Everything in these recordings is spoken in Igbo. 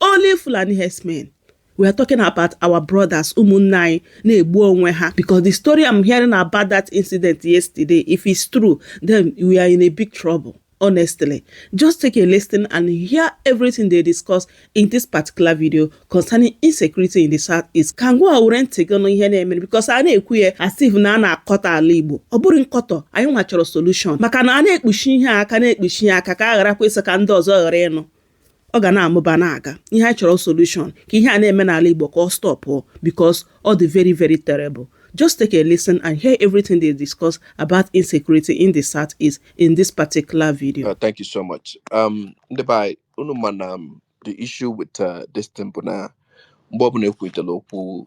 Only Fulani herdsmen. We are talking about our brothers, ụmụnne anyị na-egbu onwe ha because the story I'm hearing about that incident yesterday, if it's true, then we are in a big trouble. Honestly, just take a listen and hear everything they discuss in this particular video concerning insecurity in the Southeast. Ka ngwa were ntị gị nụ ihe na-emere because a na-ekwu ya as if na a na-akọtọ ala Igbo. Ọ bụrọ nkọtọ, anyị nwa chọrọ solution maka na a na-ekpuchi ihe aka na-ekpuchi ihe aka ka a gharakwa ịsị ka ndị ọzọ ghara ịnụ. ọ ga na-amụba na-aga ihe anyị chọrọ solution ka ihe a na-eme n'ala Igbo ka ọ stop because ọ dị very very terrible just take a listen and hear everything they discuss about insecurity in the south east in this particular video. Uh, thank you so much. Um, ndị be anyị unu ma na um, the issue with uh, this thing bụ na mgbe ọbụla ekwuritela okwu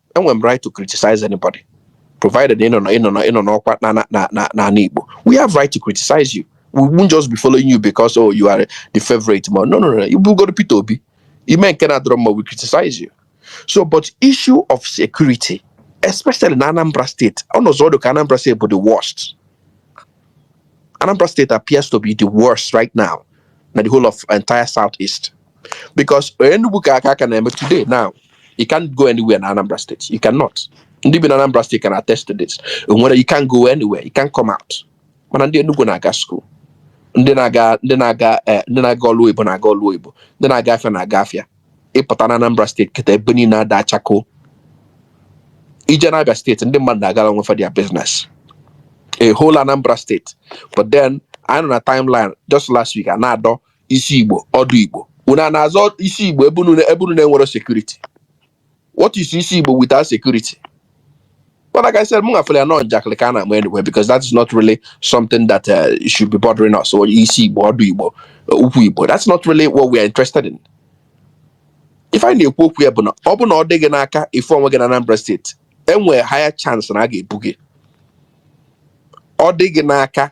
enwere m right to criticize anybody provided ị nọ na ị nọ na ị nọ n'ọkwa na na na na n'ala Igbo we have right to criticize you we won't just be following you because oh you are the favorite ma no no no ị bụgodu Peter Obi i mee nke na-adịrọ mma we criticize you so but issue of security especially na Anambra State ọnọzọ ọ dị ka Anambra State bụ the worst Anambra State appears to be the worst right now na the whole of entire southeast because Enugu ka aka aka na-eme today now you can't go anywhere na Anambra State you cannot ndị bi na Anambra State can attest to this nwere you can't go anywhere you can't come out mana ndị Enugu na-aga school ndị na-aga ndị na-aga eh, ndị na-aga ọlụ oyibo na-aga ọlụ oyibo ndị na-aga afịa na-aga afịa ị pụta na Anambra State kịta ebe niine ada chakoo i jee na Abia State ndị mmadụ na-agara onwe fa their business a whole Anambra State but then anyị nọ na timeline just last week a na-adọ isi igbo ọdụ igbo unu ana-azọ isi igbo ebe unu ebe unu na-enwero security what is isi Igbo without security but like I said mụ nwa fụlụ ya na ọ njakịrị ka a na-ama anyway because that is not really something that uh, should be bothering us or isi Igbo ọdụ Igbo uh, ukwu Igbo that's not really what we are interested in ife anyị na-ekwu okwu ya bụ na ọ bụ na ọ dị gị n'aka ị fụ onwe gị na Anambra State e nwee higher chance na a ga-ebu gị ọ dị gị n'aka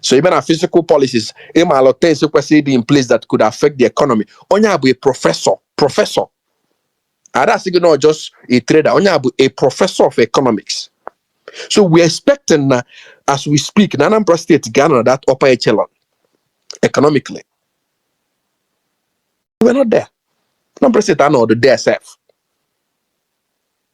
so even our fiscal policies ị malụ things kwesịrị ịdị in place that could affect the economy onye a bụ a professor professor a da asị gị na ọ just a trader onye a bụ a professor of economics so we're expecting na as we speak na Anambra State ga-anọ that upper echelon economically we're not there Anambra State anọrọ there sef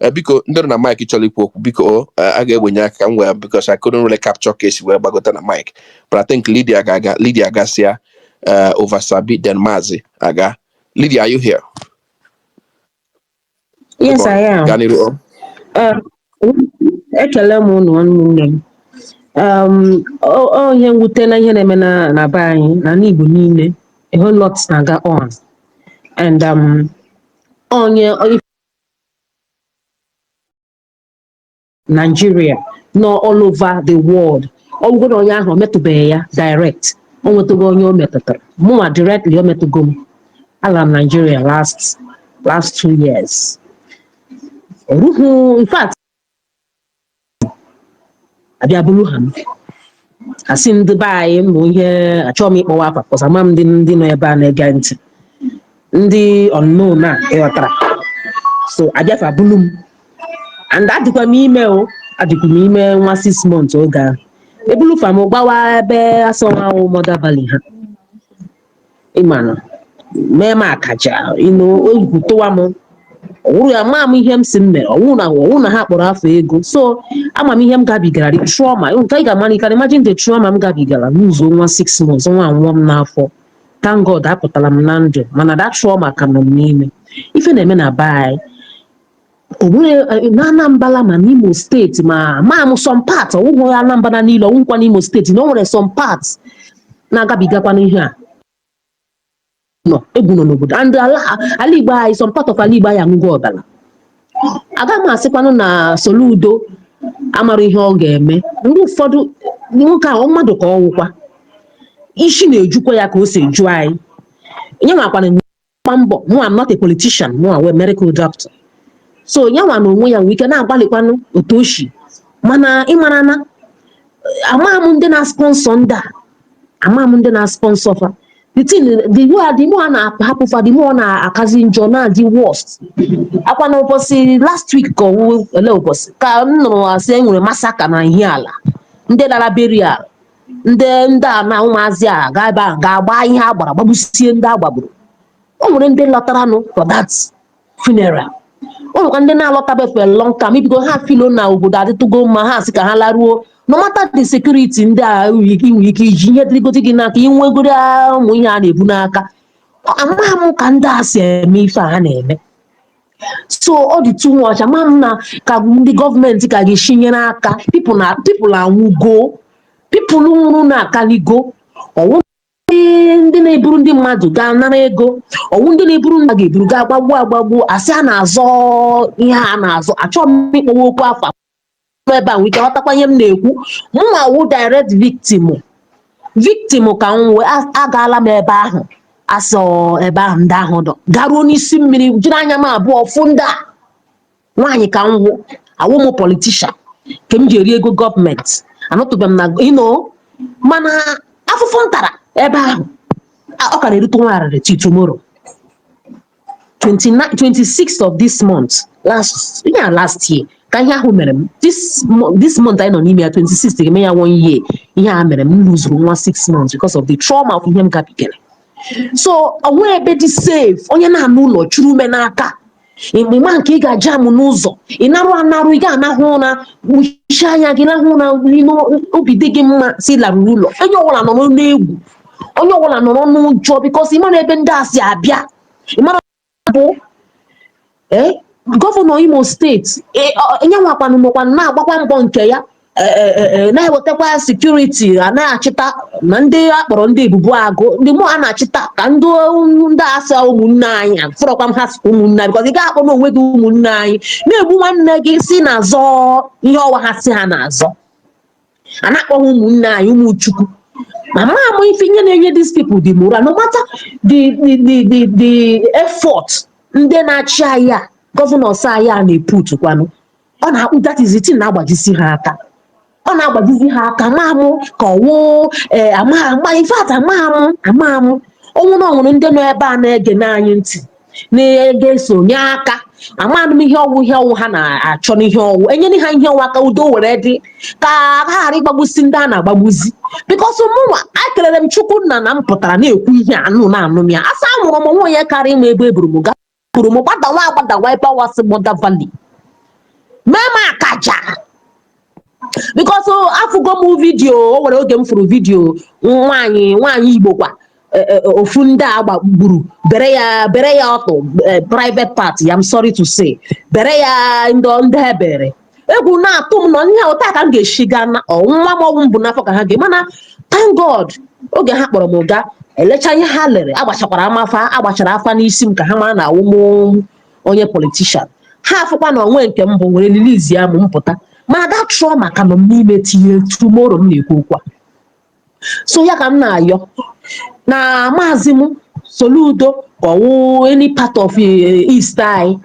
Eh, biko ndị nọ na mic chọrọ ikwu okwu biko o, eh, a ga-ewenye aka ka m wee because I couldn't really capture ka esi wee gbagota na mic but I think Lydia ga-aga Lydia agasịa eh, Ovasabi then Maazị aga Lydia are you here? Yes, Biko, I am. gaa n'iru o. Um, ekele m unu ụmụnne m um, ọ- ọ ihe mwute na ihe na-eme na na be anyị na ala Igbo niile a whole lot na-aga on and um, onye Nigeria nọ all over the world ọ bụgodi na onye ahụ o metụbeghị ya direct o nwetụgo onye o metụtara mụnwa directly o metụgo m ala m Nigeria last last two years ruo in fact abịa buru ha m asị ndị be anyị mbụ ihe achọghị m ịkpọwa afa cos ama m ndị ndị nọ ebe a na-ege ntị ndị unknown a ị ghọtara so abịa fa buru m and adịkwa m ime o adịkwa m ime nwa six months oge ahụ ebulu fa m gbawa ebe a sị ọ wụ Mother Valley ha ịmanụ mee m akaja ịnụ oyibo tụwa m ọ wụrụ ya ama m ihe m sị m mere ọwụ na ọwụ na ha kpọrọ afa ego so ama m ihe m gabigara the trauma nke ị ga-amara you can imagine the trauma m gabigara n'ụzọ nwa six months nwa anwụọ m n'afọ thank God apụtara m na ndụ mana that trauma ka nọ m n'ime ife na-eme na be anyị onweghị na Anambra ma n'Imo steeti ma ma m some part ọwụghị Anambra niile ọwụkwa n'Imo steeti na o nwere some part na-agabigakwa n'ihe a nọ egwu nọ n'obodo and ala ala Igbo anyị some part of ala Igbo anyị aṅụgo ọbara aga m asịkwanụ na Soludo amara ihe ọ ga-eme ndị ụfọdụ nwoke ahụ mmadụ ka ọ wụkwa isi na-ejukwa ya ka o si eju anyị nyanwakwanụ na-agba mbọ mụwa am not a politician mụwa wụ medical doctor so nyanwa na onwe ya nwee ike na-agbalịkwanụ otu o si mana ịmara na amaghị m ndị na-sponsor ndị a amaghị m ndị na-sponsor fa the thing the way the more a na-ahapụ fa the more ọ na-akazi njọ na-adị worst ọ kwa na ụbọchị last week ka ọwụ ele ụbọchị ka m nụrụ asị e nwere massacre na Ihiala ndị lara burial ndị ndị a na ụmụazị a ga ebe a ga-agba ihe a gbara gbagbusie ndị a gbagburu o nwere ndị lọtaranụ for that funeral o nwekwa ndị na-alọtabe for a long time maybe ha feel na obodo adịtụgo mma ha sị ka ha laruo no matter the security ndị a nwere ike nwere ike iji ihe dịrịgodi gị n'aka i nwegodi ụmụ ihe a na-ebu n'aka amaghị m ka ndị a si eme ife a ha na-eme so ọ dị too much ama m na ka ndị gọọmenti ka ga-eshi nyere aka pipụl na pipụl anwụgo pipụl nwụrụ na-akaligo ọwụ ndị na-eburu ndị mmadụ gaa nara ego ọwụ ndị na-eburu ndị a ga-eburu gaa gbagbuo agbagbuo a sị a na-azọ ihe a na-azọ achọghị m ịkpọwa okwu afa nọ ebe a nwee ike ghọtakwa ihe m na-ekwu mụnwa wụ direct victim victim ka m wụ a- agaala m ebe ahụ asọ ebe ahụ ndị ahụ dọ garuo n'isi mmiri jiri anya m abụọ fụ ndị a nwaanyị ka m wụ awụ m politishan ka m ji eri ego gọọmenti anụtụbe m na ino mana afụfụ m tara ebe ahụ a- ọ ka na-erute nwa arịrị till tomorrow 29 26th of this month last yeah last year ka ihe ahụ mere m this mo- this month anyị nọ n'ime ya 26th ga-eme ya one year ihe a mere m lụzuru nwa six months because of the trauma of ihe m gabigara so o nwe ebe dị safe onye na-anọ n'ụlọ chụrụ ume n'aka ịma nke ị ga-aja amụ n'ụzọ ị narụ anarụ ị ga-arahụ ụra kpuchie anya gị rahụ ụra n'ime obi dị gị mma sị larụrụ ụlọ onye ọbụla nọ n'egwu onye ọbụla nọrọ n'ụjọ bikos ị mara ebe ndị a si abịa ị mara bụ ee gọvanọ imo steeti e- yanwakwanụ nọkwanụ na-agbakwa mbọ nke ya e- e- e- e, na-ewetakwa sekuriti a na-achịta ma ndị a kpọrọ ndị ebube agụ ndị mụ a na-achịta ka ndị o- ndị a sị ụmụnne anyị afụrọkwa m ha sị ụmụnne anyị bikos ị ga-akpọ na onwe gị ụmụnne anyị na-egbu nwanne gị sị na-azọ ihe ọwa ha sị ha na-azọ a na-akpọ ha ụmụnne anyị ụmụ chukwu ma ma ama m ife ihe na-enye these people the morale no matter the the the the, the effort ndị na-achị anyị a gọvanọs anyị a na-eput kwanụ ọ na-akpụ that is the thing na-agbajisi ha aka ọ na-agbajizi ha aka ama mụ ka ọwụ ee ama ama in fact ama mụ ama mụ ọwụ na ọwụrụ ndị nọ ebe a na-ege anyị ntị ga-eso nye aka amanụ m ihe ọwụ ihe ọwụ ha na-achọ n'ihe ọwụ e nyere ha ihe ọwụ ka udo were dị ka ha ghara ịgbagbusi ndị a na-agbagbuzi bikos mụnwa akelere m chukwu nna na m pụtara na-ekwu ihe a unu na-anụ ma a sị anwụrụ m o nwe onye kara ịma ebe eburu m ga buru m gbadawa agbadawa ebe ọwa a sị Mother Valley mee m akaja because oh, afụgo m vidio o nwere oge m fụrụ vidio nwaanyị nwaanyị igbo kwa e, e, e, ofu ndị a gbagburu bere ya bere ya ọtụ private part I'm sorry to say bere ya ndị ndị e bere egwu na-atụ m na ihe otu a ka m ga-eshi gaa na nwa m ọwụ m bu n'afọ ka ha ga mana thank God oge ha kpọrọ m gaa elecha ihe ha lere agbachakwara m afa agbachara afa n'isi m ka ha mara na awụm onye politician ha afụkwa na o nwee nke m bụ were release ya m m pụta mana that trauma ka nọ m n'ime till tomorrow m na-ekwu okwu a so ya ka m na-ayọ na maazị m soludo ka ọ wụ any part of eh, east anyị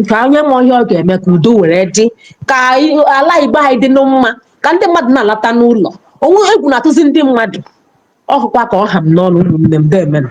ka onye ma ihe ọ ga-eme ka udo were dị ka anyị- ala igbo anyị dị mma ka ndị mmadụ na-alata n'ụlọ o nwe egwu na-atụzi ndị mmadụ ọ wụkwa ka ọ ha m n'ọnụ ụmụnne m deemenụ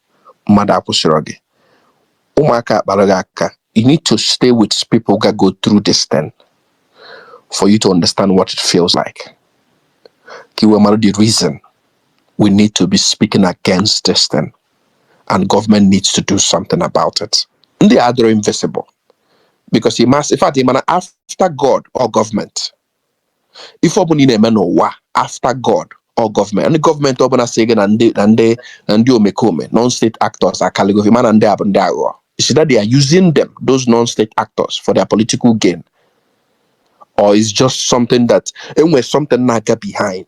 mmadụ akwụsịrọ gị ụmụaka akpara gị aka you need to stay with people ga go through this thing for you to understand what it feels like ka iwe mara the reason we need to be speaking against this thing and government needs to do something about it ndị a dịrọ invisible because he must in fact he mana after God or government ife ọbụla ị na-eme n'ụwa after God ọ gọọmenti ndị gọọmenti ọ bụ na a sị gị na ndị na ndị na ndị omekome non-state actors akalịgo gị mana ndị a bụ ndị aghụghọ is it that they are using them those non-state actors for their political gain or it's just something that e nwe something na-aga behind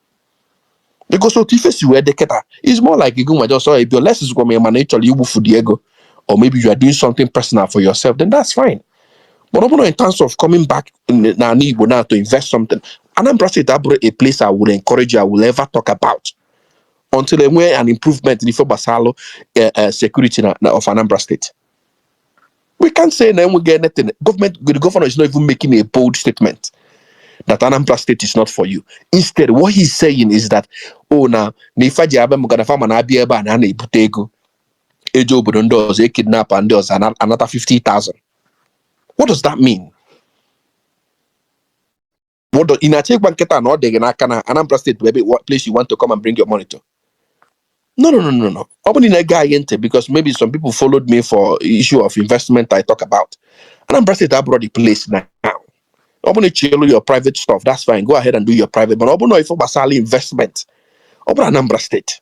because otu ife si wee dị kịta it's more like gị nwa just bịa unless ị gwa m na ị chọrọ igbufu the ego or maybe you are doing something personal for yourself then that's fine but ọ bụrụ in terms of coming back n- na anị Igbo now to invest something Anambra State abụrọ a place I would encourage you I will ever talk about until e nwee an improvement n'ife gbasalụ eh, eh, security na, na of Anambra State we can't say na enweghị anything government the governor is not even making a bold statement that Anambra state is not for you instead what he's saying is that oh na na ife fa ji abịa maka na fa ma na a bịa ebe a na a na-ebute ego e je obodo ndị ọzọ e kidnapa ndị ọzọ a na-anata 50,000 what does that mean Mọdọ ị na-achọ ịgwa m kịta na ọ dị gị ka na Anambra steeti bụ ebe place you want to come and bring your money to. No, no, no, no, no. Ọ bụrụ na ị gee anyị ntị because maybe some people followed me for issue of investment I talk about. Anambra steeti abụrọ the place now. Ọ bụrụ na ị chọlụ your private stuff, that's fine. Go ahead and do your private. But ọ bụrụ na ife gbasara investment, ọ bụrọ Anambra steeti.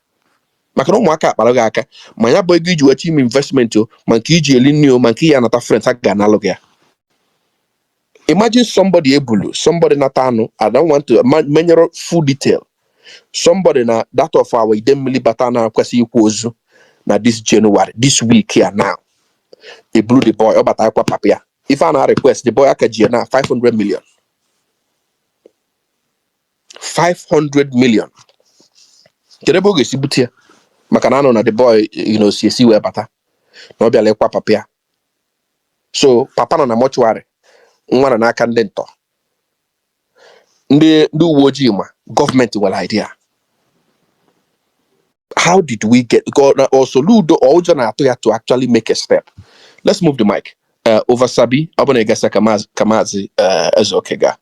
maka na ụmụaka a kpara gị aka ma ya bụ ego i ji weta ime investment o ma nke i ji eli nri o ma nke ị ya-anata friends a ga-analụ gị ya imagine somebody e bulu somebody nata anụ i don't want to menyere full detail somebody na that of our Idemili bata na-akwesị ịkwa ozu na this January this week here now e bulu the boy ọ bata ịkwa papa ya ife a na-request the boy a ka ji ya na 500 million 500 million kedu ebe ọ ga-esi bute ya maka na a nụ na the boy you know si ezi wee bata na ọ bịala ịkwa papa ya so papa nọ na mortuary nwa nọ n'aka ndị ntọ ndị ndị uwe ojii ma gọọmenti enwerọ idea how did we get ọ Soludo ọ ụjọ na-atụ ya to actually make a step let's move the mic uh, Oversabi ọ bụ na ị ga-asị ka maazị Ezeoke gaa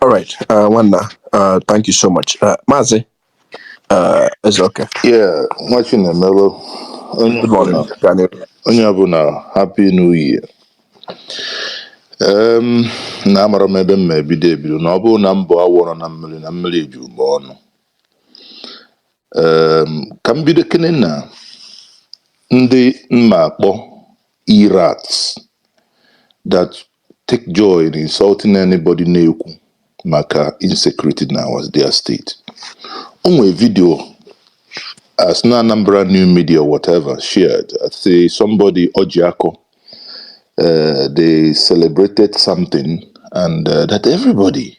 All right, uh, nwanna, uh, thank you so much. Uh, Maazị uh, Ezeoke, Yeah, nwa Chinemelu, good morning. Gaa n'ihu. onye ọbụla happy new year. Um, na amarọ m ebe m ma-ebido ebido na ọ bụrụ na m bụ awọ nọ na mmiri na mmiri juru m ọnụ. Um, ka m bido kene na ndị m ma-akpọ irats that take joy in insulting anybody na-ekwu maka insecurity na was their state o nwere video as na Anambra new media whatever shared I say somebody Ojiako uh, they celebrated something and uh, that everybody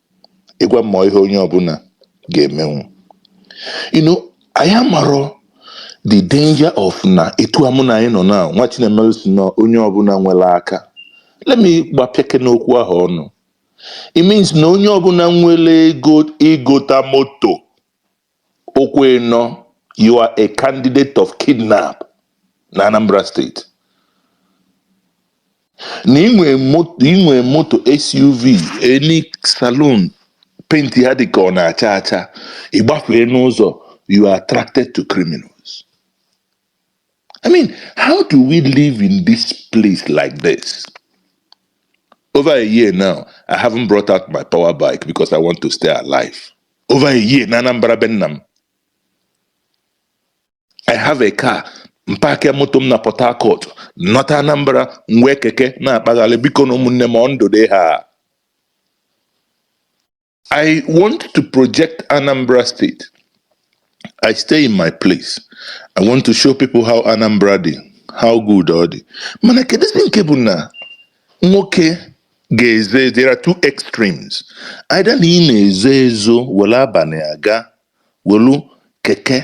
ịgwa mụ ọ ihe onye ọbụla ga-emenwu you know anyị amarọ the danger of na etu a mụ na anyị nọ na nwa Chinemelu sị na onye ọbụla nwere aka let me gbapịake n'okwu ahụ ọnụ it means na onye ọbụla nwere ego ịgota moto Ụkwụ ịnọ, You are a candidate of kidnap na Anambra State. Na inwe moto SUV any saloon paint ya dị ka ọ na-acha acha ị gbafee n'ụzọ you are attracted to criminals. I mean, how do we live in this place like this? Over a year now, I haven't brought out my power bike because I want to stay alive. Over a year, na Anambra be nna m. I have a car. M pakịa moto m na Port Harcourt, nata Anambra, m wee keke na-akpagharị bikonụ ụmụnne m ọ ndụ dị ihe a. I want to project Anambra State. I stay in my place. I want to show people how Anambra dị, how good ọ dị. Mana kedụzi nke bụ na nwoke ga-eze there are two extremes. Either na ị na-ezo ezo were abalị aga welu keke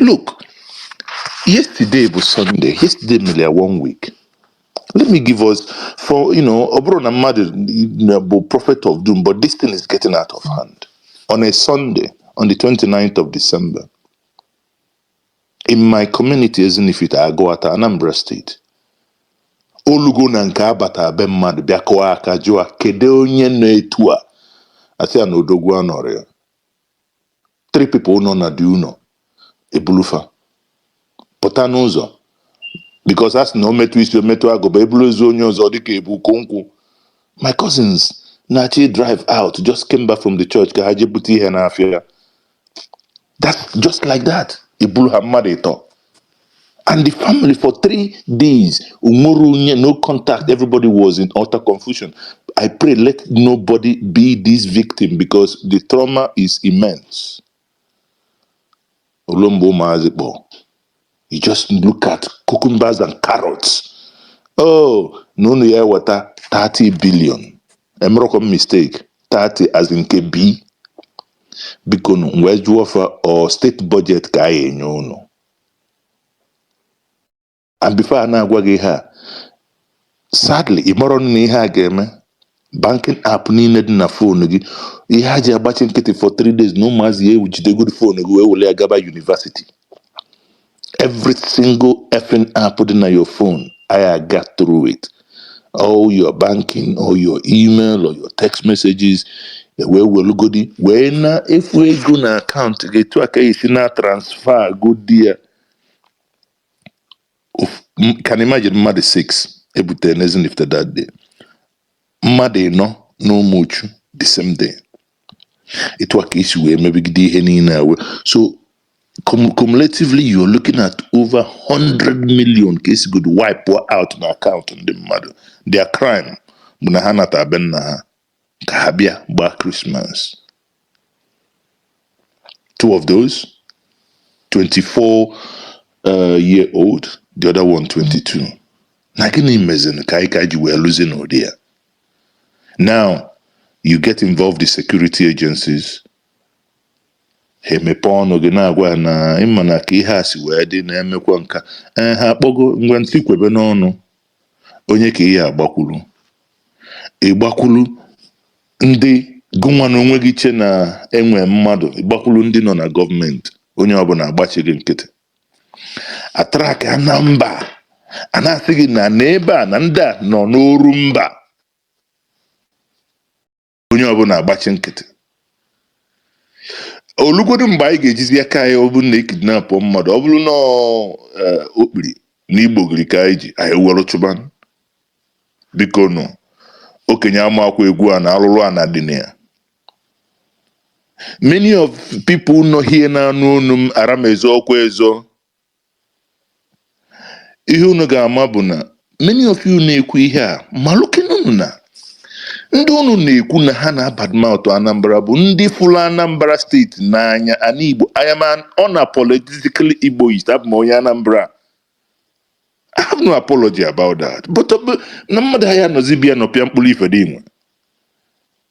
Look, yesterday bụ Sunday, yesterday mere ya one week. Let me give us for you know, ọ bụrọ na mmadụ bụ prophet of doom, but this thing is getting out of hand. On a Sunday, on the 29th of December, in my community Ezinifite Agụata, Anambra State, o lugo na nke a bata be mmadụ bịa kụọ aka jụọ kedu onye nọ etu a a sị ya na odogwu anọrọ ya three people nọ na the ụnọ e bulu fa pụta n'ụzọ because a sị na o metụ isi o metụ agụba eburu ezi onye ọzọ dịka ebu ukwu nkụ my cousins na-achọ ịdrive out just came back from the church ka ha jee bute ihe n'afịa that's just like that e bulu ha mmadụ ịtọ and the family for three days umorunye no contact everybody was in utter confusion i pray let nobody be this victim because the trauma is immense olombo ụmụazị kpọ you just look at cucumbers and carrots oh na unu ya eweta 30 billion emerọkwa m mistake 30 as in kb biko nu wee jụọ fa ọ steeti budget ka anyị enye unu and before a na-agwa gị ihe a sadly ị marọ na ihe a ga-eme banking app niile dị na phone gị ihe ha ji agbachi nkịtị for three days na ụmụazị a ejidego phone gị wee were ya gaba university every single effing app dị na your phone a ya-aga through it all your banking or your email or your text messages ewee welugodi wee na-efu ego na akaụntụ gị etu a ka esi na transfa godi ya Of- m- can imagine mmadụ 6 ebutere n'Ezinifite that day mmadụ ịnọ na Umuchu the same day etu a ka esi wee mebigide ihe niile a wee so cum- cumulatively you're looking at over 100 million ka esigodo wipe out na akaụntụ ndị mmadụ their crime bụ na ha nata be nna ha ka ha bịa gbaa krismas two of those 24 uh, year old the other one 22 na gịnị mezin ka anyị ka ji wee luzi n'ụdị a now you get involved the security agencies ha emepe ọnụ gị na-agwa ha na ị ma na ka ihe a si wee dị na-emekwa nka ee ha akpọgo ngwa ntị kwebe n'ọnụ onye ka ị ya-agbakwuru ị gbakwuru ndị gịnwa na onwe gị che na enwe mmadụ ị gbakwuru ndị nọ na gọọmenti onye ọbụla agbachi gị nkịtị atrakịa nọmba a na-asị gị na n'ebe a na ndị a nọ n'Orumba onye ọbụla agbachi nkịtị o lugodu mgbe anyị ga-ejizi aka anyị ọ bụrụ na ekidnapụ mmadụ ọ bụrụ na ọ, eh, okpiri na igbogiri ka anyị ji anyị were chụba bikonụ okenye amakwa egwu a na alụrụ ana dị na ya Many of people nọ here na-anụ onu m ara m ezo okwu ezo. Ihe unu ga-ama bụ na many of you na-ekwu ihe a malụkene unu na ndị unu na-ekwu na ha na-abadmouth Anambra bụ ndị fụrụ Anambra steeti n'anya ana Igbo I am an unapologetically Igboist abụ m onye Anambra I have no apology about that but na mmadụ ha ya anọzi bịa nọpịa mkpụrụ ife dị inwe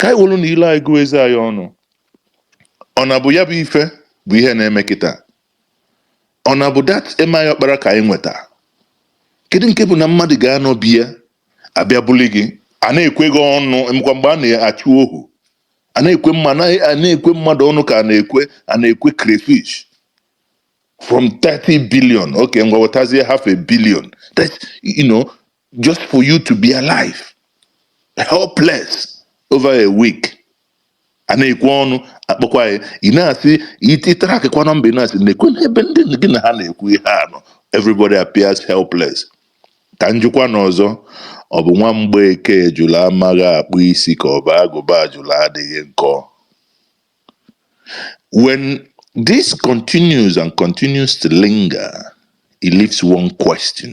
ka anyị werenụ ile anyị gụọ eze anyị ọnụ ọ na bụ ya bụ ife bụ ihe na-eme kịta ọ na bụ that eme anyị ọkpara ka anyị nweta kedu nke bụ na mmadụ ga-anọ be ya abịa buli gị a na-ekwe gị ọnụ emekwa mgbe a na-achụ ohu a na-ekwe mma na- a na-ekwe mmadụ ọnụ ka a na-ekwe a na-ekwe crayfish from 30 billion okay ngwa wetazie half a billion That's, you know just for you to be alive helpless over a week a na-ekwe ọnụ akpọkwa ya ị na-asị ị trakịkwa nọmba ị na-asị nekwenụ ebe ndị gị na ha na-ekwu ihe a nọ everybody appears helpless ka m jụkwanụ ọzọ ọ bụ nwa Mgbeke ejula amaghị akpụ isi ka ọ bụ agụba ajụla adịghị nkọ when this continues and continues to linger it leaves one question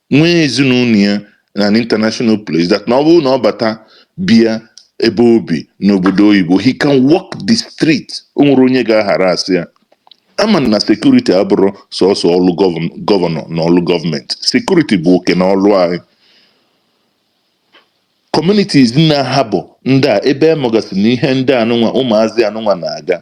nwee ezinụlọ ya na an international place that na ọ bụrụ na ọ bata bịa ebe o bi n'obodo oyibo he can walk the street o nwere onye ga-aghara asị ya ama na security abụrọ sọsọ ọlụ gọvan- gọvanọ na ọlụ gọọmenti security bụ oke na ọlụ anyị communities na ha bụ ndị a ebe a magasị na ihe ndị anụnwa ụmụazị anụnwa na-aga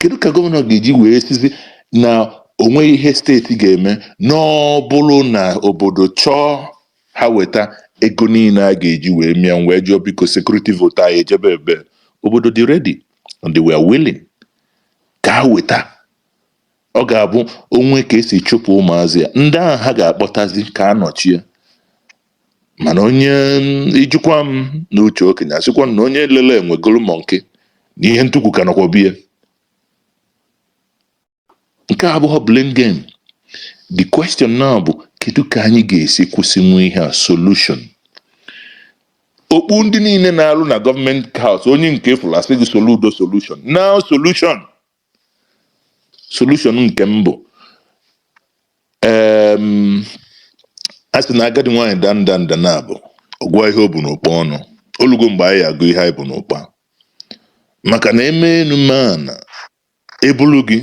kedu ka gọvanọ ga-eji wee sịzi na o nweghị ihe steeti ga-eme n'ọbụrụ na obodo chọọ ha weta ego niile a ga-eji wee mee ya m wee jụọ biko security vote anyị ejebe ebee obodo dị ready and they were willing ka ha weta ọ ga-abụ o nwee ka e si chụpụ ụmụazị a ndị ahụ ha ga-akpọtazi ka a nọchie mana onye ijikwa m na uche okenye asịkwa na onye lele enwe golu mọnkị na ihe ntukwu ka nọkwa be ya nke a abụghị blame game the question now bụ kedu ka anyị ga-esi kwụsịnwu ihe a solution okpu ndị niile na-alụ na Government House onye nke ị fụrụ a sị gị Soludo solution now solution solution nke mbụ em, a sị na agadi nwaanyị da nda nda naabọ a gụa ihe o bu n'ụkpa ọnụ o lugo mgbe anyị agụ ihe anyị bu n'ụkpa maka na eme enu ma na e bulu gị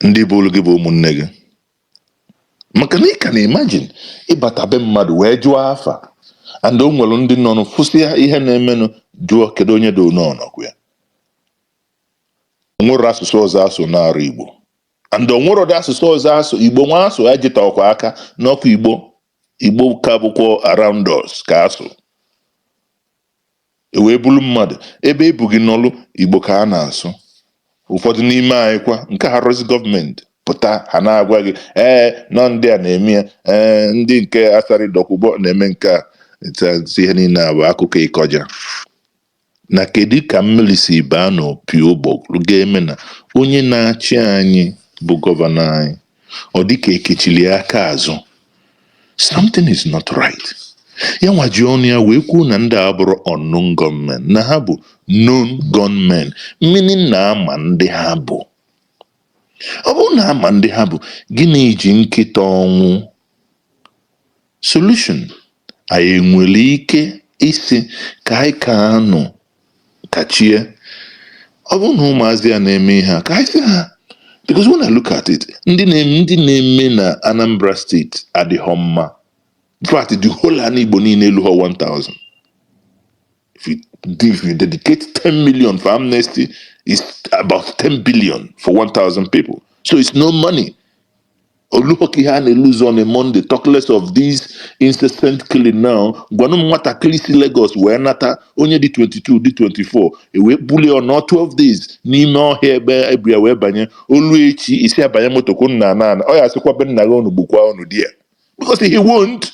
ndị bulu gị bụ ụmụnne gị maka na ị can imagine ịbata be mmadụ wee jụọ afa and o nwere ndị nọ nụ fụsịa ihe na-emenụ jụọ kedu onye dị n'ọnọgwụ ya o nwerọ asụsụ ọzọ a sụ na-arọ igbo and o nwerọ ụdị asụsụ ọzọ a sụ igbo nwa asụ ya jịtakwa aka n'ọkụ igbo igbo ka bụkwa around us ka a sụ e wee bulu mmadụ ebe e bu gị nọlụ igbo ka a na-asụ ụfọdụ n'ime anyị kwa nke ha rụsị gọọmenti pụta ha na-agwa gị ee na ọ ndị a na-eme ya ee ndị nke Asari Dokubo na-eme nke a It's, uh, ihe niile a bụ akụkọ ịkọja na kedu ka mmiri si baa n'opi ụgbọgụrụ ga-eme na onye na-achị anyị bụ gọvanọ anyị ọ dịka e kechiri ya aka azụ something is not right ya nwa ji ọnụ ya wee kwuo na ndị a abụrọ unknown gunmen na ha bụ known gunmen meaning na a ma ndị ha bụ ọ bụrụ na a ma ndị ha bụ gịnị ji nkịta ọnwụ Solution, Anyị nwere ike ịsị ka anyị ka anụ kachie. Ọ bụrụ na ụmụazị a na-eme ihe a, ka anyị sị ha because when I look at it, ndị na-eme ndị na-eme na Anambra State adịhọ mma. In fact, the whole ala Igbo niile eluhọ 1000. If you if you dedicate 10 million for amnesty, it's about 10 billion for 1,000 people. So it's no money. O luho ka ha na-lose on a Monday. Talk less of this incessant killing now. Gwanụ m nwatakịrị si Lagos wee nata onye dị 22 dị 24 ewee bulie ọ nọọ 12 days n'ime ọhịa ebe ebia wee banye o lue echi i si abanye moto kwụ nna ana ana ọ ya asịkwa be nna gị unu gbukwa unu di ya because he won't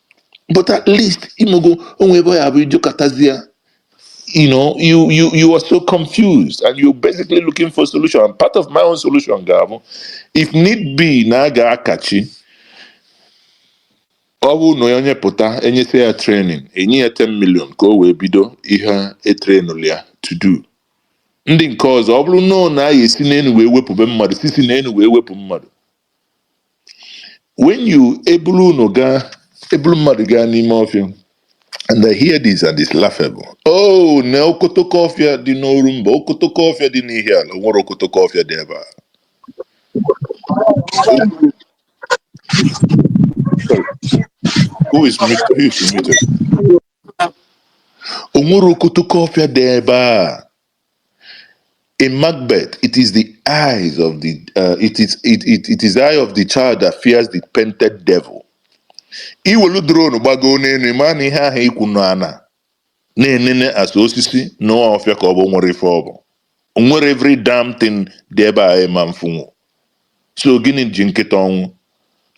but at least ị mago onwe ebe ya bụ ijukatazie you know you you you are so confused and you're basically looking for a solution and part of my own solution ga-abụ if need be na a ga-akachi ọ bụrụ na onye pụta enyesịa ya training enye ya 10 million ka o wee bido ihe e trainụlụ ya to do ndị nke ọzọ ọ bụrụ na ọ na a ya-esi n'enu wee wepụbe mmadụ sisi n'enu wee wepụ mmadụ when you ebulu unu gaa ebulu mmadụ gaa n'ime ọfịa and I hear this and it's laughable oh na okotoko ọfịa dị n'Orumba okotoko ọfịa dị n'Ihiala o nwere okotoko ọfịa dị ebe a Sorry. who is mute? Who is muted? o nwere okotoko ọfịa dị ebe a In Macbeth, it is the eyes of the uh, it is it, it, it is the eye of the child that fears the painted devil. I welu drone gbagoo n'elu ị ma na ihe ahụ ị kwụ n'ana na-enene as osisi na ọfịa ka ọ bụ nwere ife ọ bụ. O nwere every damn thing dị ebe a ịma mfunwu. So gịnị ji nkịta ọnwụ?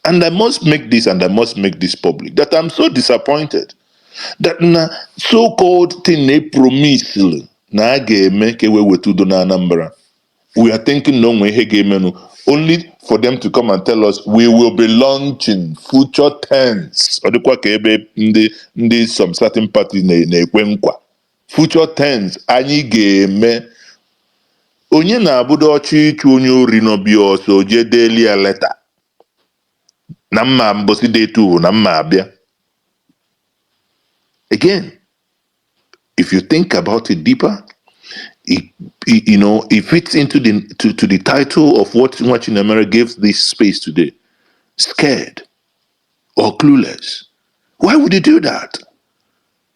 And I must make this and I must make this public that I'm so disappointed that na so-called thing e promisili na a ga-eme ka e wee weta udo na Anambra. We are thinking na o nwe ihe ga-emenụ only for them to come and tell us we will be launching future tense. Ọ dịkwa ka ebe ndị ndị some certain parties na- na-ekwe nkwa future tense anyị ga-eme onye na-abụdo ọ chọọ ịchụ onye ori n'ọfịa ọsọ o jee deeli ya leta na m ma mbọsị dị etu na m ma-abịa again if you think about it deeper it, it- you know it fits into the to, to the title of what Nwachinemere gives this space today scared or clueless why would you do that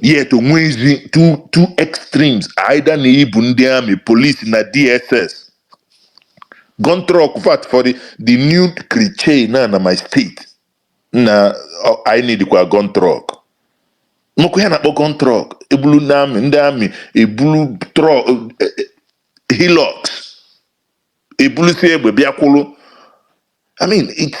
yet o nwezi two two extremes either na i bu ndị amị polisi na dss gun truck fact for the, the new craze na na my state na ọ- anyị nidikwa gun truck nnukwu ihe a na-akpọ gun truck ebulu ndị amị ndị amị ebulu truck hilux ebulusịa egbe bịa kwụrụ i mean it's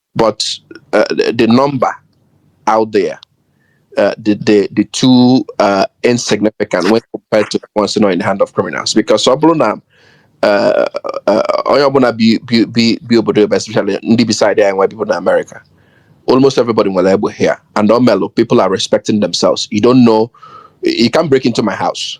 But uh, the, the number out there, uh, the, the, the too uh, insignificant when compared to the ones nọ in the hand of criminals. Because ọ bụrụ na uh, uh, onye ọbụla bi bi bi bi obodo ebe especially ndị bi side anyị nwe people in America, almost everybody nwelu egbe here. And ọ melụ, people are respecting themselves. You don't know, you can't break into my house.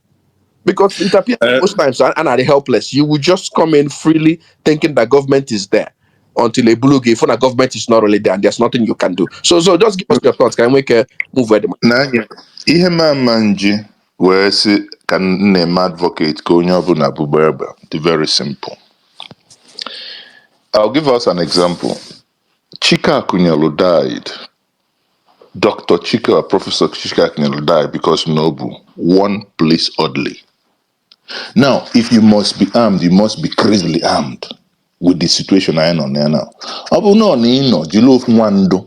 Because it appears uh, most times, and are helpless. You will just come in freely thinking that government is there until a blue gave when a government is not really there and there's nothing you can do. So, so just give us your thoughts. Can we uh, move where the money? Ihe mama nji wee sị ka nna-eme advocate ka onye ọbụla bụgba egbe dị very simple. I'll give us an example. Chike Akunyelu died Dr. Chike or Professor Chike Akunyili died because na o bu one police orderly. Now, if you must be armed, you must be crazily armed with the situation anyị nọ now. Ọ bụrụ na ọ na ị nọ jiri ofu nwa ndụ,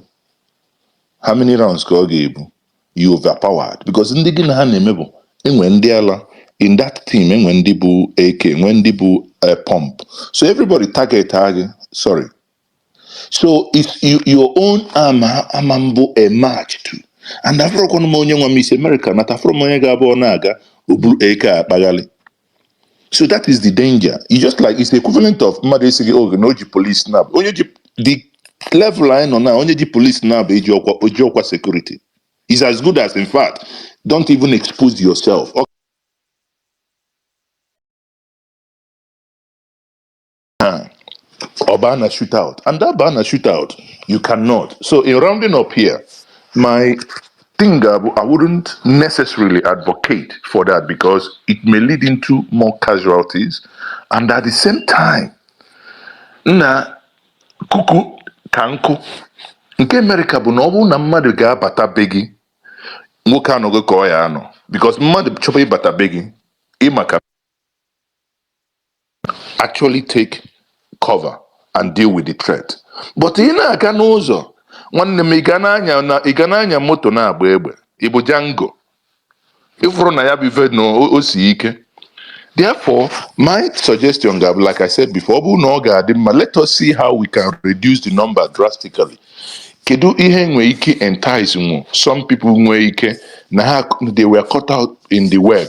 how many rounds ka ọ ga-ebu? You overpowered because ndị gị na ha na-eme bụ e nwe ndị ala in that team e nwe ndị bu AK, e nwe ndị bu uh, pump. So everybody target ha gị, sorry, so it's you, your own ama ama m bụ a match too and afụrọkwanụ m onye nwa m i si America nata afụrọ m onye ga-abụ ọ na-aga o buru AK akpaghalị so that is the danger it's just like it's equivalent of mmadụ ịsị gị oge na o ji police nabọ onye ji the level anyị nọ now onye ji police nabọ ejirọkwa o jirọkwa security is as good as in fact don't even expose yourself Huh. Ọ baa na shootout. And a baa na shootout, you cannot. So in rounding up here, my thing bụ, I wouldn't necessarily advocate for that because it may lead into more casualties. And at the same time, n'akụkụ ka nkụ nke America bụ na ọ bụrụ na mmadụ ga-abata be gị nwoke anọghị ka ọ ya anọ because mmadụ chọba ịbata be gị ịma ka actually take cover and deal with the threat but ị na-aga n'ụzọ nwanne m ị ga na-anya na ị ga na-anya moto na-agba egbe ị bụ Django ị fụrụ na ya bụ ife na o o si ike Therefore, my suggestion ga-abụ, like I said before, ọ bụrụ na ọ ga-adị mma, let us see how we can reduce the number drastically. Kedu ihe nwe ike entice nwu some people nwere ike na ha they were caught out in the web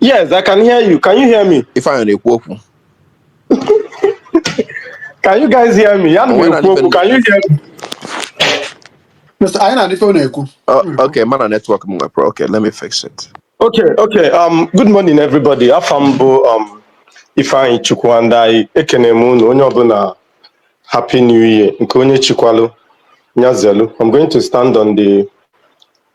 Yes, I can hear you. Can you hear me? Ifeanyi na-ekwu okwu. Can you guys hear me? Ya na Onwe na-ekwu okwu. depend- Can you hear me? Mr. anyị na-anụ ife ọ na-ekwu Oh, okay, mana network m nwepụrụ. Okay, let me fix it. Okay, okay. Um, good morning, everybody. Afa m bụ um, Ifeanyichukwu. And I, ekene m unu onye ọbụla Happy New Year nke onye chikwalụ nya zelu. I'm going to stand on the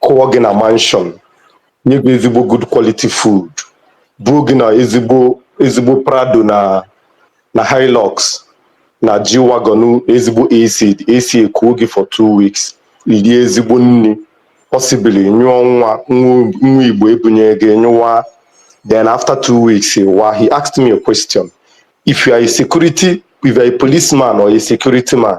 kụọ gị na mansion nye gị ezigbo good quality food buo gị na ezigbo ezigbo prado na na hilux na g-wagon ezigbo ac ac ekuo gị for two weeks i lie ezigbo nni possibly nyụọ nwa nwa nwa igbo ebunye gị nyụwa then after two weeks wa he asked me a question if you are a security if you are a policeman or a security man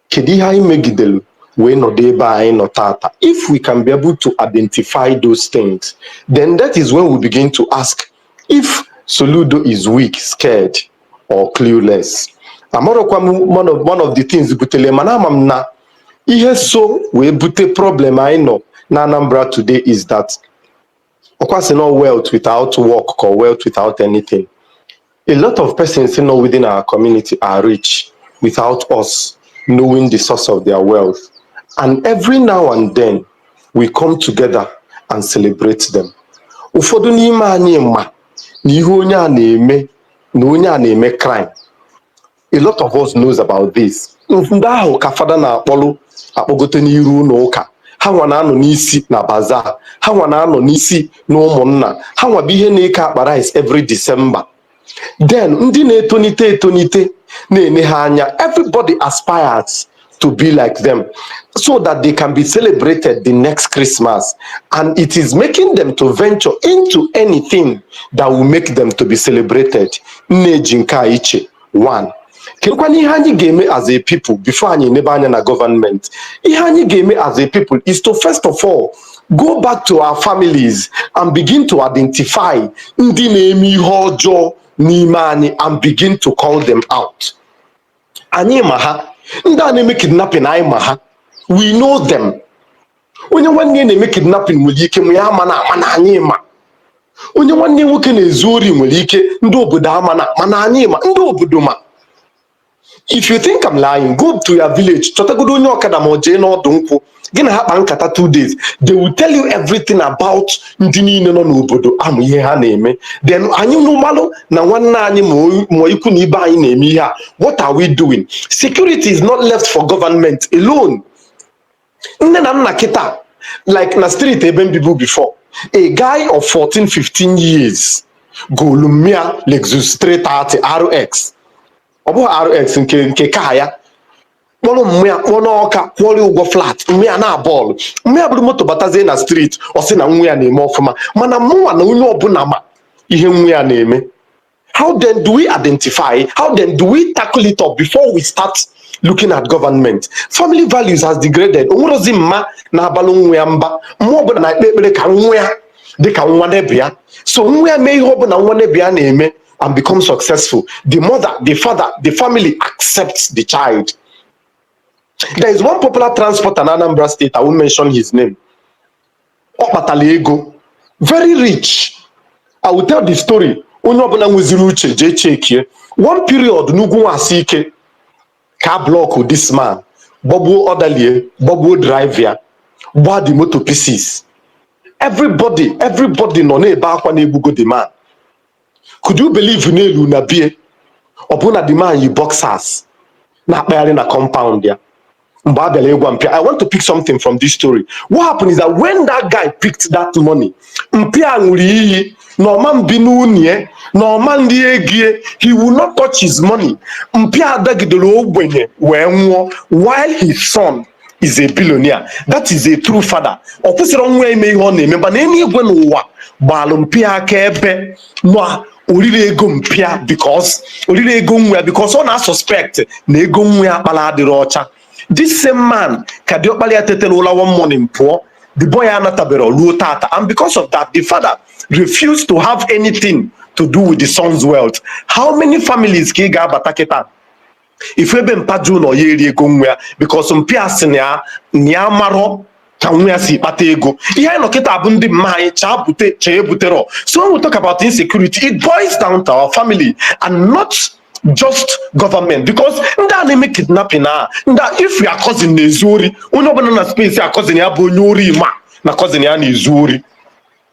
kedu ihe anyị megidelu wee nọdụ ebe a anyị nọ taata if we can be able to identify those things then that is when we begin to ask if Soludo is weak scared or clueless amarọkwa m one of, one of the things butelu mana ama m na ihe so wee bute problem anyị nọ na Anambra today is that ọkwa si no wealth without work or wealth without anything a lot of persons nọ within our community are rich without us knowing the source of their wealth and every now and then we come together and celebrate them ụfọdụ n'ime anyị ma na ihe onye a na-eme na onye a na-eme crime a lot of us knows about this ndị ahụ ka fada na-akpọlụ akpọgote n'iru ụnọ ụka ha nwa na-anọ n'isi na bazaar ha nwa na-anọ n'isi na ụmụnna ha nwa bụ ihe na-eke akpa rice every December then ndị na-etonite etonite na-ene ha anya everybody aspires to be like them so that they can be celebrated the next Christmas. And it is making them to venture into anything that will make them to be celebrated. Nneji nke a iche one. kedụkwanụ ihe anyị ga-eme as a people before anyị nebe anya na government ihe anyị ga-eme as a people is to first of all go back to our families and begin to identify ndị na-eme ihe ọjọọ n'ime anyị and begin to call them out. anyị ma ha ndị a na-eme kidnapping anyị ma ha we know them onye nwanne ya na-eme kidnapping nwere ike nne ya amana mana anyị ma onye nwanne nwoke na-ezu ori nwere ike ndị obodo amana mana anyị ma ndị obodo ma if you think I'm lying go to your village chọtagodo onye ọkada ma ọ jee n'ọdụ nkwụ gị na ha kpaa nkata two days they will tell you everything about ndị niile nọ n'obodo a ma ihe ha na-eme then anyị nwa malụ na nwanne anyị ma ikwu na ibe anyị na-eme ihe a what are we doing security is not left for government alone nne na nna kịta like na street ebe m bibu before a guy of 14 15 years golu mma ya Lexus 330 RX ọ bụghị RX nke nke aka ya kpọrọ mma ya kpọọ n'ọka kwụọrọ ụgwọ flat mma ya na bọọlụ mma ya buru moto batazie na street ọ sị na nwa ya na-eme ọfụma mana mụnwa na onye ọbụla ma ihe nwa ya na-eme how then do we identify how then do we tackle it up before we start looking at government family values has degraded o nwerozi mma na-abalụ nwa ya mba mma ọbụla na-ekpe ekpere ka nwa ya dị ka nwa neighbour ya so nwa ya mee ihe ọbụla nwa neighbour ya na-eme and become successful, the mother, the father, the family accepts the child. There is one popular transporter in Anambra State, I won't mention his name. Ọ kpatala ego, very rich. I will tell the story. Onye ọbụla nweziri uche jee checkie. One period n'Ugwu Nwasike ka a block this man gbagbuo orderly ya gbagbuo driver ya gbaa the motor pieces. Everybody, everybody nọ na-ebe akwa na e gbugo the man. could you believe na e lu na be ya ọ bụ na the man yi boxers na-akpagharị na compound ya mgbe a bịara ịgwa mpa ya i want to pick something from this story what happened is that when that guy picked that money mpa ya ṅụrụ iyi na ọ ma mbi n'ụnọ ya na ọ ma nri ego ya he will not touch his money mpa ya dagidere ogbenye wee nwụọ while his son is a billionaire that is a true father ọ kwụsịrị nwa ya ime ihe ọ na-eme mana eluigwe na ụwa gbalụ mpa ya akaebe na o rirọ ego mpa ya because o rirọ ego nwa ya because ọ na-asuspect na ego nwa ya kpala adịrọ ọcha this same man ka diọkpara ya tetela ụla one morning pụọ the boy anataberọ ruo tata and because of that the father refused to have anything to do with the son's wealth how many families ka ị ga-abata kịta ị fụ ebe mpa jụ na ọ ya eri ego nwa ya because mpa ya sị na ya amarọ ka nwa ya si kpata ego ihe anyị nọ kịta bụ ndị mma anyị chaa bute chaa ebuterọ so when we talk about insecurity it boils down to our family and not just government because ndị a na-eme kidnapping a if your cousin na-ezu ori onye ọbụla na space a cousin ya bụ onye ori ma na cousin ya na-ezu ori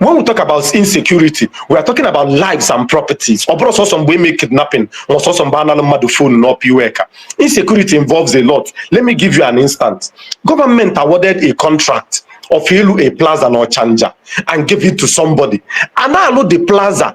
when we talk about insecurity we are talking about lives and properties ọ bụrọ sọsọ mgbe e me kidnapping ma sọsọ mgbe a nala mmadụ phone na upper iweka insecurity involves a lot let me give you an instance government awarded a contract of ịlụ a plaza na ọchanja and gave it to somebody a na-alụ the plaza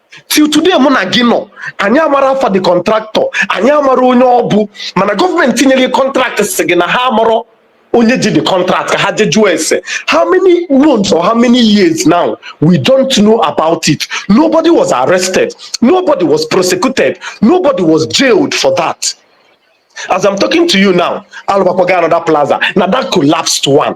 till today mụ na gị nọ anyị amarọ afa the contractor anyị amarọ onye ọ bụ mana government nyere contract sị gị na ha amarọ onye ji the contract ka ha je jụọ ese how many months or how many years now we don't know about it nobody was arrested nobody was prosecuted nobody was jailed for that as i'm talking to you now a lụbakwago another plaza na that collapsed one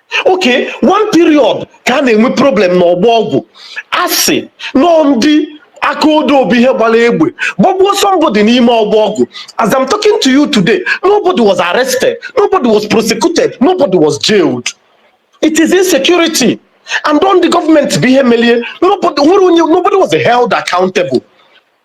okay one period ka a na-enwe problem na ọgbọ ọgwụ a sị na ọ ndị aka odo bụ ihe gbara egbe gbagbuo somebody n'ime ọgbọ ọgwụ as I'm talking to you today nobody was arrested nobody was prosecuted nobody was jailed it is insecurity and ọ ndị government bụ ihe melie nobody nwere onye nobody was held accountable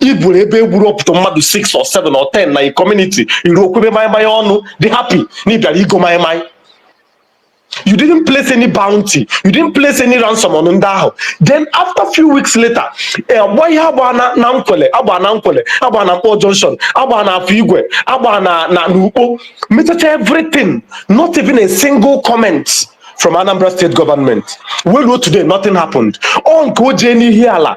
iburu ebe egburu up to mmadụ 6 or 7 or 10 na a community i ruo kwebe maịmaị ọnụ dị happy na ị bịara igo maịmaị you didn't place any bounty you didn't place any ransom on ndị ahụ then after few weeks later agba ihe agba na na Nkwelle agba na Nkwelle agba na Nkpor junction agba na afọ igwe agba na na n'ukpo mechaa everything not even a single comment from anambra state government wee luo today nothing happened ọ nke o jee n'ihi ala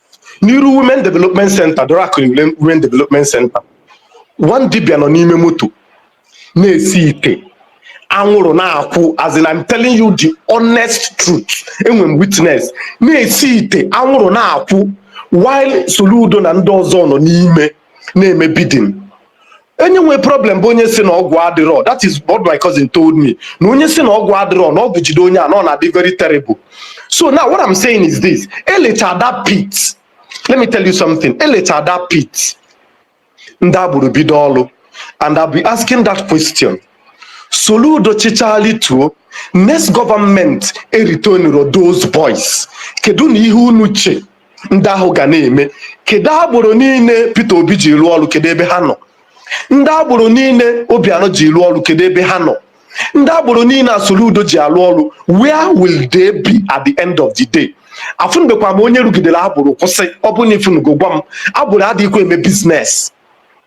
n'iru women development center Dora Akunyili women development center one dibia nọ n'ime moto na-esi ite anwụrụ na-akwụ as in I'm telling you the honest truth enwe m witness na-esi ite anwụrụ na-akwụ while Soludo na ndị ọzọ nọ n'ime na-eme bidding onye nwe problem bụ onye sị na ọgwụ adịrọ that is what my cousin told me na onye sị na ọgwụ adịrọ na ọgwụ jide onye a na ọ na-adị very terrible so now what I'm saying is this elecha that pit let me tell you something elecha that pit ndị agboro bido ọlụ and I'll be asking that question Soludo chịchaa lituo next government eretainirọ those boys kedu na ihe unu che ndị ahụ ga na-eme kedu agboro niile Peter Obi ji rụọ ọrụ kedu ebe ha nọ ndị agboro niile Obianọ ji rụọ ọrụ kedu ebe ha nọ ndị agboro niile Soludo ji alụ ọrụ where will they be at the end of the day afụnubekwa m onye rụgidere agboro kwụsị ọ bụrụ na ị fụnugo gwa m agboro adịghịkwa eme biznes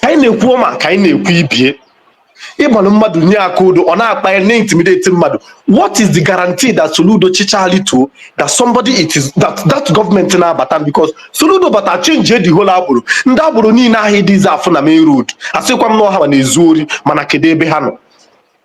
ka anyị na-ekwu ọma ka anyị na-ekwu ibie ịgbalụ mmadụ nye aka odo ọ na-akpa ya na-intimidate mmadụ what is the guarantee that soludo chịchaa lituo that somebody it is that that gọọmenti na-abata because soludo bata chenji the whole agboro ndị agboro niile ahụ adịzi afụ na main road asịkwa m na ọ ha ma na-ezu ori mana kedu ebe ha nọ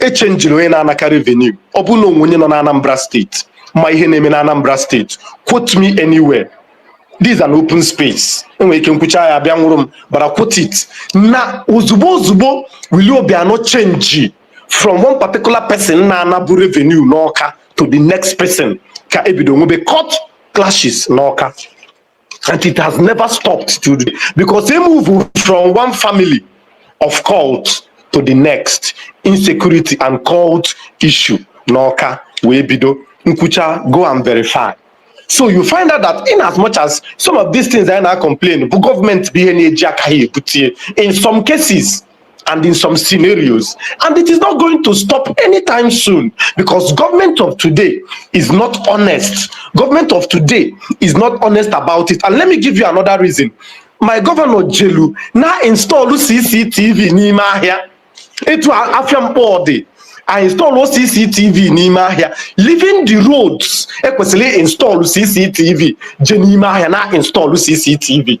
echenjiri onye na-anaka revenue ọ bụrụ na o nwe onye nọ na Anambra steeti ma ihe na-eme na Anambra steeti quote me anywhere this is an open space enwere ike m kwuchaa ya a bịa nwụrụ m but I quote it na ozugbo ozugbo Willie Obiano chenji from one particular person na-anabu revenue n'ọka to the next person ka ebido nwebe cult clashes n'ọka and it has never stopped today because they move from one family of cult to the next insecurity and cult issue n'ọka wee bido m kwuchaa go and verify so you find out that in as much as some of these things anyị na-complain bụ gọọmenti bụ ihe na-eji aka ha ebute in some cases and in some scenarios. And it is not going to stop anytime soon because government of today is not honest. Government of today is not honest about it. And let me give you another reason. My governor Jelu now install CCTV n'ime ahịa. Etu afia mkpọ dị. I install CCTV n'ime ahịa. Leaving the roads ekwesịrị install CCTV je n'ime ahịa na install CCTV.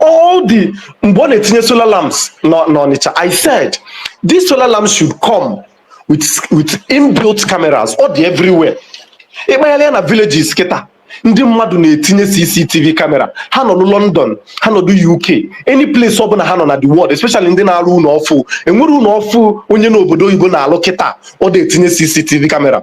all the mgbe ọ na-etinye solar lamps nọ n'Ọnịcha I said this solar lamp should come with with inbuilt cameras ọ dị everywhere ịkpagharịa na villages kịta ndị mmadụ na-etinye CCTV camera ha nọ na London ha nọ na UK any place ọ bụla ha nọ na the world especially ndị na-arụ ụnọ ọfụ enwere ụnọ ọfụ onye n'obodo oyibo na-alụ kịta ọ na-etinye CCTV camera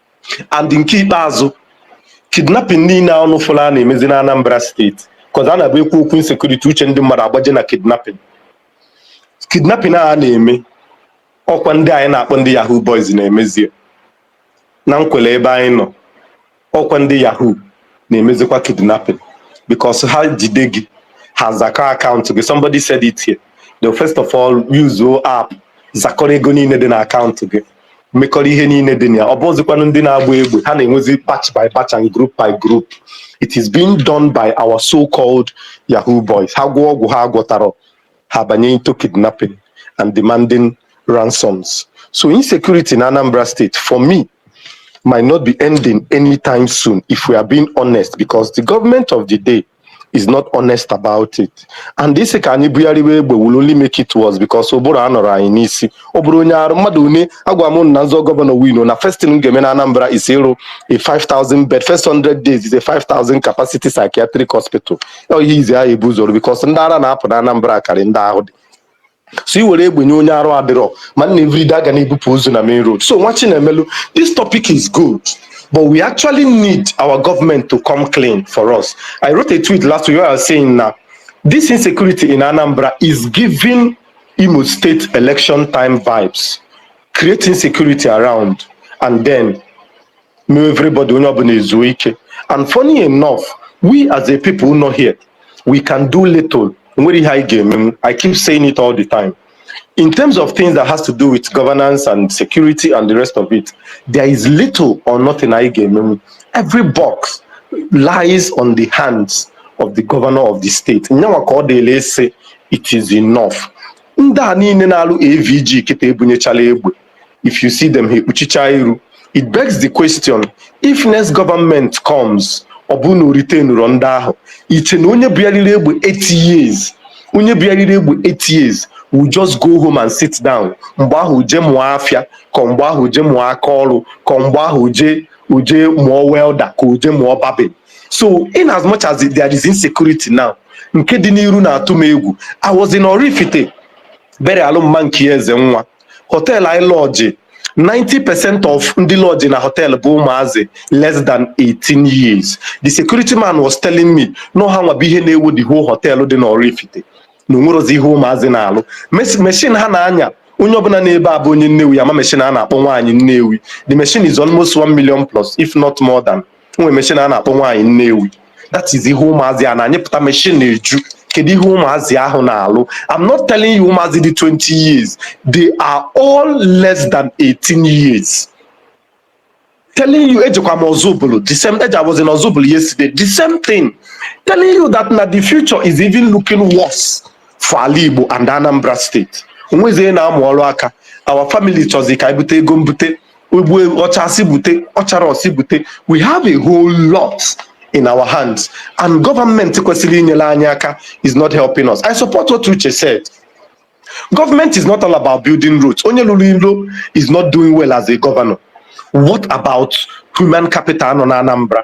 and nke ikpeazụ kidnapping niile a unu fụrụ a na-emezi na Anambra state cos a na-abụ e kwuo okwu insecurity uche ndị mmadụ agbaje na kidnapping kidnapping a na-eme ọkwa ndị anyị na-akpọ ndị yahoo boys na-emezie na Nkwelle ebe anyị nọ ọkwa ndị yahoo na-emezikwa kidnapping because ha jide gị ha zakọọ akaụntụ gị somebody said it here they'll first of all use app zakọrọ ego niile dị na akaụntụ gị mekọrọ ihe niile dị na ya ọ bụzikwanụ ndị na-agba egbe ha na-enwezi batch by batch and group by group it is being done by our so-called yahoo boys ha gwọọ ọgwụ ha agwọtarọ ha abanye into kidnapping and demanding ransoms so insecurity na anambra state for me might not be ending anytime soon if we are being honest because the government of the day is not honest about it and ịsị ka anyị bugharịwa egbe will only make it worse because ụbụrụ anọrọ anyị n'isi ọ bụrụ onye arụ mmadụ une agwa m na m zọọ gọvanọ win na first thing m ga-eme na Anambra is ịrụ a 5000 bed first 100 days is a 5000 capacity psychiatric hospital ihe izi ahụ ebu ụzọ rụọ because ndị ara na-apụ na Anambra karị ndị ahụ dị so i were egbe nye onye arụ adịrọ ma nna everyday aga na-ebupụ ozu na main road so nwa chinemelu this topic is good but we actually need our government to come clean for us i wrote a tweet last week where i was saying na this insecurity in anambra is giving imo state election time vibes create insecurity around and then mma everybody onye ọbụla ezuo ike and funny enough we as a people nọ here we can do little nwerọ ihe anyị ga-eme I keep saying it all the time in terms of things that has to do with governance and security and the rest of it there is little or nothing anyị ga-emenwu every box lies on the hands of the governor of the state nyanwa ka ọ dịlị ịsị it is enough ndị a niile na-alụ AVG kịta ebunyechala egbe if you see them ha ekpuchicha iru it begs the question if next government comes ọ bụrụ na o retainrọ ndị ahụ i che na onye buarịrị egbe 8 years onye buarịrị egbe 8 years will just go home and sit down mgbe ahụ je mụọ afịa ka mgbe ahụ je mụọ aka ọrụ ka mgbe ahụ je o je mụọ welder ka o je mụọ barbing so in as much as there is insecurity now nke dị n'iru na-atụ m egwu I was in Oraifite burial mma nke Ezenwa họteelụ anyị lọọjị 90 percent of ndị lọọjị na họteelụ bụ ụmụazị less than 18 years the security man was telling me na ọ ha nwa bụ ihe na-ewu the whole họteelụ dị n'Oraifite na o nwerọzi ihe ụmụazị na-alụ Mes- machine ha na-anya onye ọbụla n'ebe a bụ onye Nnewi ya-ama machine a na-akpọ nwaanyị Nnewi the machine is almost 1 million plus if not more than nwere meshin a na-akpọ nwaanyị Nnewi that is ihe ụmụazị a na-anyapụta meshin na-eju kedu ihe ụmụazị ahụ na-alụ I'm not telling you ụmụazị dị 20 years they are all less than 18 years telling you ejekwa m Ọzụbụlụ the same age I was in Ọzụbụlụ yesterday the same thing telling you that na the future is even looking worse for ala Igbo and Anambra State o nwezie na-amụ ọrụ aka our family chọzi ka anyị bute ego mbute Ogbu ọcha si bute, ọchara o si bute. We have a whole lot in our hands and government kwesịrị inyere anyị aka is not helping us. I support what Uche said. Government is not all about building roads. Onye lụlụ ilo is not doing well as a governor. What about human capital nọ na Anambra?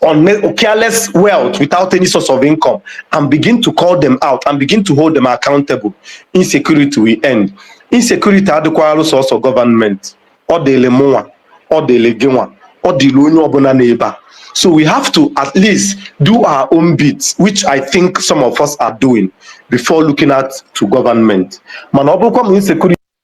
on careless wealth without any source of income and begin to call them out and begin to hold them accountable insecurity will end insecurity adịkwalụ sọsọ government ọ dịlị mụnwa ọ dịlị gịnwa ọ dịlị onye ọbụla n'ebe a so we have to at least do our own bits which i think some of us are doing before looking at to government mana ọ bụrụkwa ma insecurity